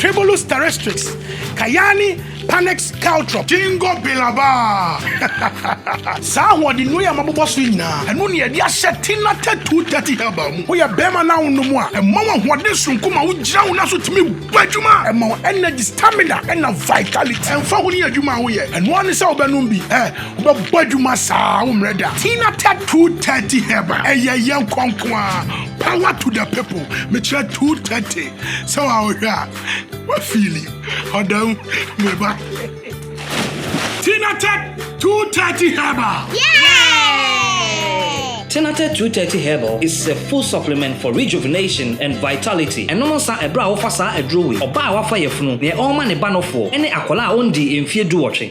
Tribulus terrestrix, Cayani panax caltrop, Gingko biloba. Saa ahoɔden nnuro yi a mabobɔ so yi nyinaa, ɛno na yɛde ahyɛ Thinate 230 herbal mu. Woyɛ barima na wonom a, ɛma wo ahoɔden soronko ma wogyina wo nan so tumi bɔ adwuma. Ɛma wo energy, stamina na vitality. Ɛmfa ho ne adwuma a woyɛ, ɛno ara ne sɛ wobɛnom bi. Ɛ, wobɛbɔ adwuma saa a, woremmrɛ da. Thinate 230 herbal, ɛyɛ yɛn kɔ nko ara. Power to the people. Mekyerɛ 230. sɛ wa wohwɛ a wa fili ɔda mu meba tinatɛ 230 herbal Tinatɛ 230 herbal is a full supplement for rejuvenation and vitality ɛnom nsa ɛberɛ a wofa saa aduro wei ɔbaa a wafa yafunu neɛ ɔrema ne ba nofoɔ ɛne akwadaa a ɔndii mfeɛ duwɔtwe.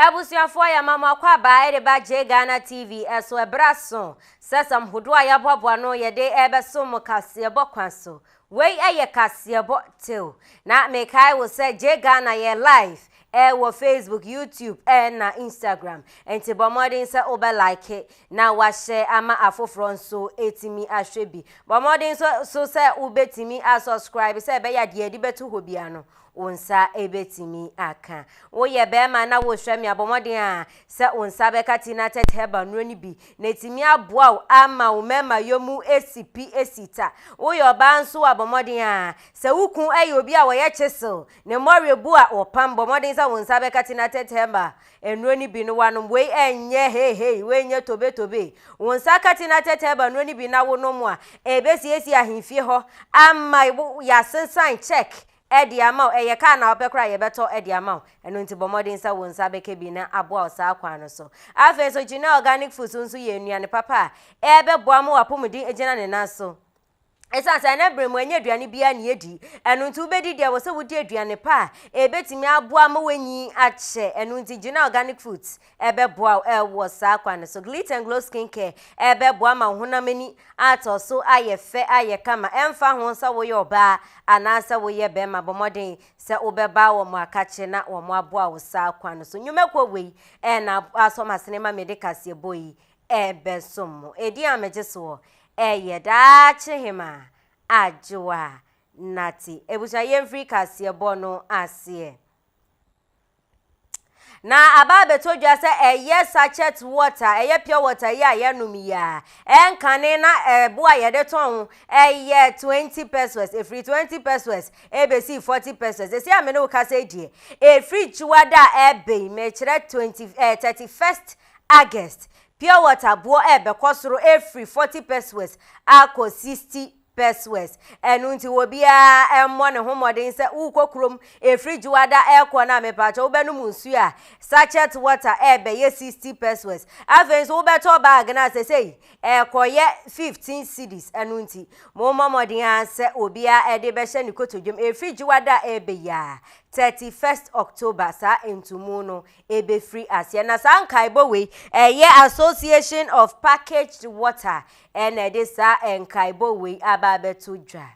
Abusuafoɔ yɛma mo akwaaba ɛde ba Jay Ghana TV ɛso ɛberɛ aso sɛ sɛm hodoɔ a yɛaboaboa ano yɛde ɛrebɛsom mo kaseɛbɔ kwan so Wei yɛ kaseɛbɔ tew. Na mekae wo sɛ Gye Ghana yɛ live wɔ Facebook, YouTube na Instagram. Nti bɔ mmɔden sɛ wobɛ like na wahyɛ ama afoforɔ nso atumi ahwɛ bi. Bɔ mmɔden nso sɛ wobɛtumi asɔskraibe sɛ ɛbɛyɛ a deɛ yɛde bɛto hɔ biara no Wo nsa betumi aka. Woyɛ barima na wosua mi a, bɔ mmɔden ara sɛ wo nsa bɛka Tinatet herbal nnuro no bi, na atumi aboa wo ama wo mmarimayɔ mu asi pi asi ta. Woyɛ ɔbaa nso a, bɔ mmɔden ara sɛ wo kunu yɛ obi a ɔyɛ kyesew, ne mmɔre bu a ɔpam. Bɔ mmɔden sɛ wo nsa bɛka Tinatet herbal nnuro no bi na woanom. Wei nyɛ heihei, wei nyɛ tobetobe. Wo nsa ka Tinatet herbal nnuro no bi na wonom a, ebesiesie ahemfie hɔ ama wo. Yɛasensan cheque de ama wo, ɛyɛ kaa na wopɛ koraa a, yɛbɛtɔ de ama wo. Ɛno nti bɔ mmɔden sɛ wo nsa bɛka bi na aboa wo saa kwan no so. Afei nso, Genel Organic Foods nso yɛ nnuane papa a ɛbɛboa ma w'apɔmuden agyina ne nan so. Ɛsiane sɛ ɛnɛ bere mu ɛnyɛ aduane biara na yɛdi, ɛno nti wobɛdi deɛ ɛwɔ sɛ wodi aduane pa a ɛbɛtumi aboa ma w'anyin akyɛ. Ɛno nti Genel Organic Foods ɛbɛboa wo wɔ saa kwan no so. Glitter and Glow Skin Care ɛbɛboa ma wo honam ani atɔ so ayɛ fɛ, ayɛ kama. Ɛmfa ho sɛ woyɛ ɔbaa anaasɛ woyɛ barima, bɔ mmɔden sɛ wobɛba wɔn akakye na wɔaboa wo saa kwan no so. Nnwumakuo wei na asɔ m'asene ma mede kaseɛbɔ yi ɛbɛsom mo. Edin a megye soɔ ɛyɛ Daakyehemaa Adwoa Nartey. Abusua yɛmfiri kaseɛbɔ no aseɛ. Na aba abɛtɔ dwa sɛ ɛyɛ sachet water, ɛyɛ pure water yi a yɛnom yi a, ɛnkane na ɛbo a yɛde tɔn ho ɛyɛ twenty pesos, efiri twenty pesos ebesi forty pesos. Esi a me ne wo kasa yi deɛ, efiri gyiwada a ɛbɛn yi, mekyerɛ twenty ɛɛ eh, thirty first August, pure water boɔ ɛbɛkɔ soro efiri forty pesos akɔ sixty Persues. Ɛno nti obiara mmɔ ne ho mmɔden sɛ wokɔ kurom ɛfiri Dwoada ɛrekɔ no a mepatwɔ wobɛnom nsuo a sachet water ɛrebɛyɛ 60 persues. Afei nso wobɛtɔ bag no a sɛsɛi ɛrekɔyɛ 15 cedis. Ɛno nti mommɔ mmɔden ara sɛ obiara ɛde bɛhyɛ ne kotodwam ɛfiri Dwoada a ɛrebɛ yi ara 31st October saa ntumu no ɛbɛfiri aseɛ. Na saa nkaebɔ wei ɛyɛ Association of Packaged Water Ɛnna ɛde saa nkaebɔ wei aba abɛto dwa.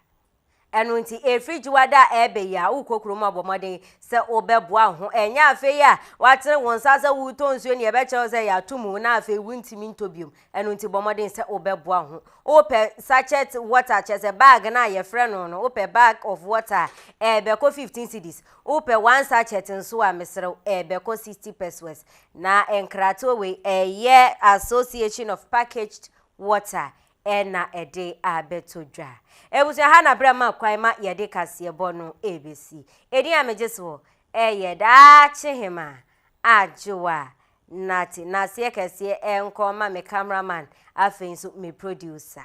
Ɛno nti, ɛfiri Dwoada a ɛreba yi a, wokɔ kurom a, bɔ mmɔden sɛ wobɛboa wo ho. Ɛnyɛ afei a woatene wo nsa sɛ woretɔ nsuo na yɛbɛkyerɛ wo sɛ yɛato mu na afei wontumi ntɔ biom. Ɛno nti, bɔ mmɔden sɛ wobɛboa wo ho. Wopɛ sachet water, kyerɛ sɛ bag no a yɛfrɛ no no, wopɛ bag of water a, ɛbɛkɔ 15 cedis. Wopɛ one sachet nso a, mesrɛ wo, ɛbɛkɔ 60 pesewas. Na nkratoɔ wei ɛyɛ Association of Packaged Water ɛna ɛde abɛtɔ dwa. Abusua ha na berɛ ma kwan ma yɛde kaseɛbɔ no ɛbɛsi. Ɛdin a megye soɔ ɛyɛ Daakye-hema Adjoa Nartey. Naseɛ kɛseɛ ɛnkɔ ma me camera man afei nso me producer.